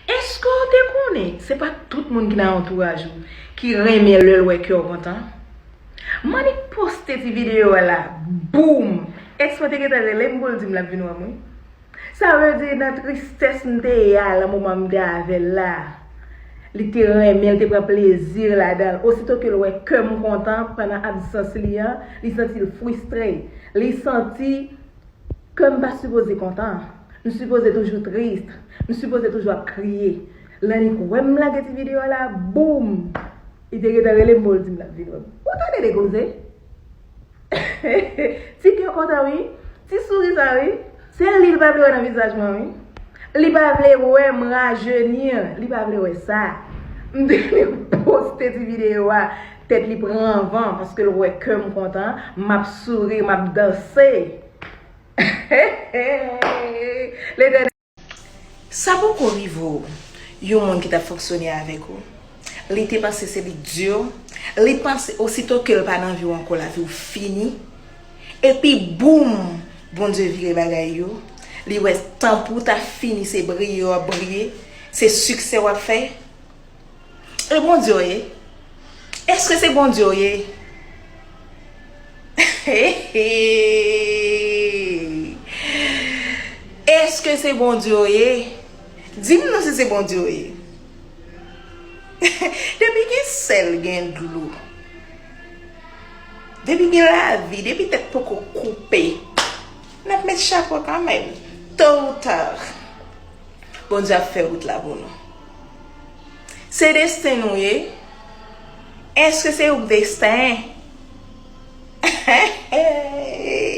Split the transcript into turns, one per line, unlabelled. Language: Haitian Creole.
Eske w te konnen se pa tout moun ki nan antouraj ou ki renmen lè l wè ke w kontan? Manick poste ti videyo a la, boom! Ex mwen te gentan rele m pou l di m l ap vin wè m wi. Sa vle di nan tristès m te ye a lan moman m te avè l la, li te renmen, li te pran plezi l ladan l. Osito ke l wè kè m kontan pandan absans li an, li santi l fristre. Li santi. Kè m pa sipoze kontan. M sipoze toujou trist. M sipoze toujou ap kriye. Lanik wè m lage ti videyo a la, boum! Li te gentan rele m pou l di m l ap vin wè m. Ou tande de koze? Ti kè kontan wi. Ti souri sa wi. Se li l pa vle wè nan vizaj mwen wi. Li pa vle wè m rajenir. Li pa vle wè sa. M te vin poste ti videyo a. Tèt li pran anvan paske l wè kè m kontan, m ap souri, m ap danse. Letènèl. Sa poko rive w? Yon moun ki t ap fonksyone avèk ou, li te panse se li k di w, li panse osito ke l pa nan vi w ankò lavi w fini, epi boum Bondye vire bagay yo, li wè tan pou w ta fini se briye w ap briye, se siksè w ap fè. E Bondye w ye? Eske se Bondye w ye? Eske se Bondye w ye? Di m non si se Bondye w ye. Depi gen sèl gen dlo. Depi gen lavi, depi tèt poko koupe. N ap met chapo kanmèm. To ou ta. Bondye ap fè wout la pou nou. Se desten nou ye. Eske se yon desten? He he he he.